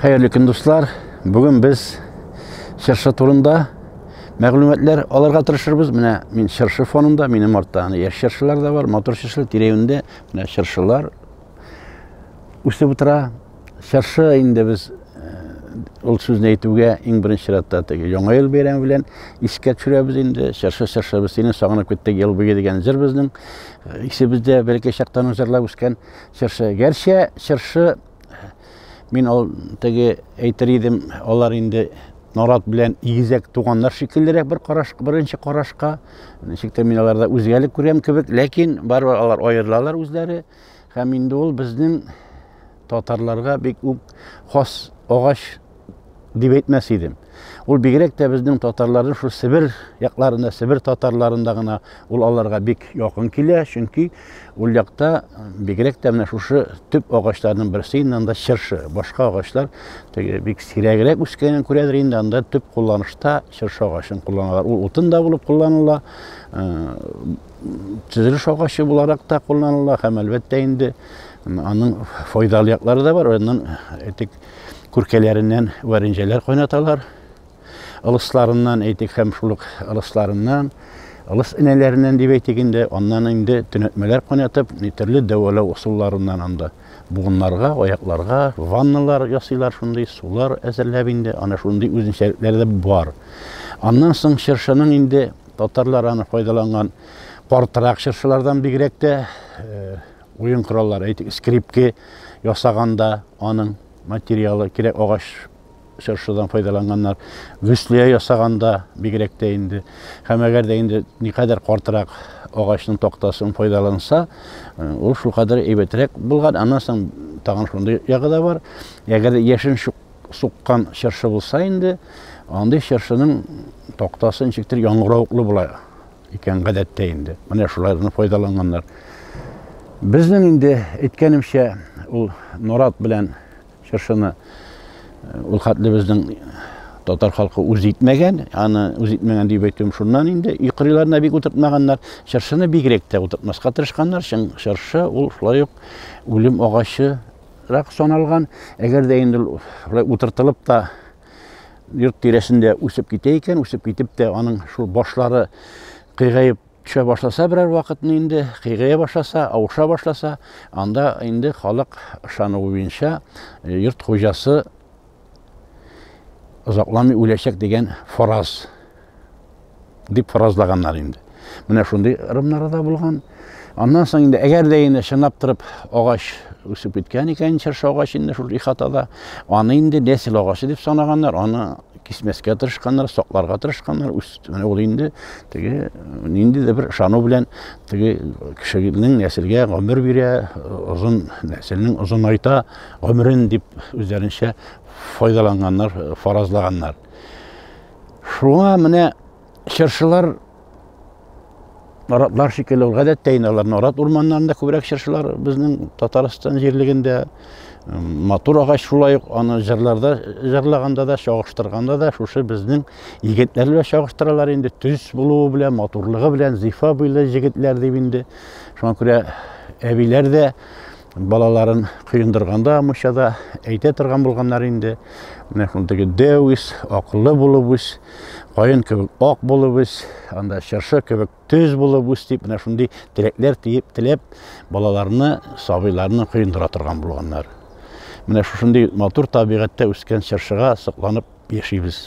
Хәерле көн, дуслар! Бүген без чыршы турында мәгълүматлар алырга тырышырбыз. Менә мин чыршы фонында, минем артта аны яшь чыршылар да бар, мотор чыршылар тирәюендә менә чыршылар үсеп утыра. Чыршы инде без ул сүзне әйтүгә иң беренче чиратта теге яңа ел бәйрәме белән искә төшерәбез инде. Чыршы чыршы без сине сагынып киттек ел буе дигән җыр безнең исебездә бәләкәй чактан җырлап үскән чыршы. Гәрчә чыршы Мин ул теге әйтер идем, алар инде нарат белән игезәк туганнар шикеллерәк бер караш, беренче карашка. Ничек тә мин аларда үзгәлек күрәм кебек, ләкин барыбер алар аерылалар үзләре. Һәм инде ул безнең татарларга бик үк хас агач дип әйтмәс идем. Ул бигрәк тә безнең татарларны шул Себер якларында, Себер татарларында гына ул аларга бик якын килә, чөнки ул якта бигрәк тә менә шушы төп агачларның берсе инде анда чыршы. Башка агачлар теге бик сирәгрәк үскәнен күрәдер инде, анда төп кулланышта чыршы агачын кулланалар. Ул утын да булып кулланыла, төзелеш э, агачы буларак та кулланыла һәм әлбәттә инде аның файдалы яклары да бар. Аннан әйтик, э, күркәләреннән варенҗәләр кайнаталар. Ылысларыннан әйтик һәм шул ук ылысларыннан, ылыс энәләреннән дип әйтик инде, аннан инде төнәтмәләр кайнатып, төрле дәвалау ысулларыннан анда буыннарга, аякларга ванналар ясыйлар, шундый сулар әзерләп инде, ана шундый үзенчәлекләре дә бар. Аннан соң чыршының инде татарлар аны файдаланган картырак чыршылардан бигрәк тә э, Уен кораллары, әйтик, скрипке ясаганда аның материалы кирәк агач чыршыдан файдаланганнар. Гөслия ясаганда бигрәк тә инде. Һәм әгәр дә инде никадәр картырак агачның тактасын файдаланса, э, ул шул кадәр әйбәтрәк булган. Аннан соң тагын шундый ягы да бар. Әгәр дә яшен суккан чыршы булса инде, андый чыршының тактасы ничектер яңгыравыклы була. икән, гадәттә инде. Менә шулай гына файдаланганнар. Безнең инде әйткәнемчә, ул нарат белән чыршыны э, ул хәтле безнең татар халкы үз итмәгән, аны үз итмәгән дип әйтүем шуннан инде, өй кырыйларына бик утыртмаганнар, чыршыны бигрәк тә утыртмаска тырышканнар, чын чыршы ул шулай ук үлем агачы рак саналган, әгәр дә инде шулай утыртылып та йорт тирәсендә үсеп китә икән, үсеп китеп тә аның шул башлары кыйгаеп төшә башласа берәр вакытны инде, кыйгая башласа, авыша башласа, анда инде халык ышануы буенча э, йорт хуҗасы озакламый үләчәк дигән фараз дип фаразлаганнар инде. Менә шундый ырымнары да булган. Аннан соң инде әгәр дә инде чынлап торып агач үсеп киткән икән, чыршы агач инде шул ихатада, аны инде нәсел агачы дип санаганнар, аны кисмәскә тырышканнар, сакларга тырышканнар. Менә ул инде теге нинди дә бер ышану белән теге кешенең нәселгә гомер бирә, озын нәселнең озынайта гомерен дип үзләренчә файдаланганнар, фаразлаганнар. Шуңа менә чыршылар наратлар шикелле ул гадәттә инде алар нарат урманнарында күбрәк чыршылар безнең татарстан җирлегендә матур агач шулай ук аны җырларда җырлаганда да чагыштырганда да шушы безнең егетләр белән чагыштыралар инде төз булуы белән матурлыгы белән зифа буйлы егетләр дип инде шуңа күрә әбиләр дә Балаларын коендырганда мучада әйтә торган булганнар инде. Менә шул теге дәү ис, акыллы булып үс, каен кебек ак булып үс, анда чыршы кебек төз булып үс дип, менә шундый теләкләр тиеп теләп, балаларны, сабыйларны коендыра торган булганнар. Менә шушындый матур табигатьтә үскән чыршыга сокланып яшибез.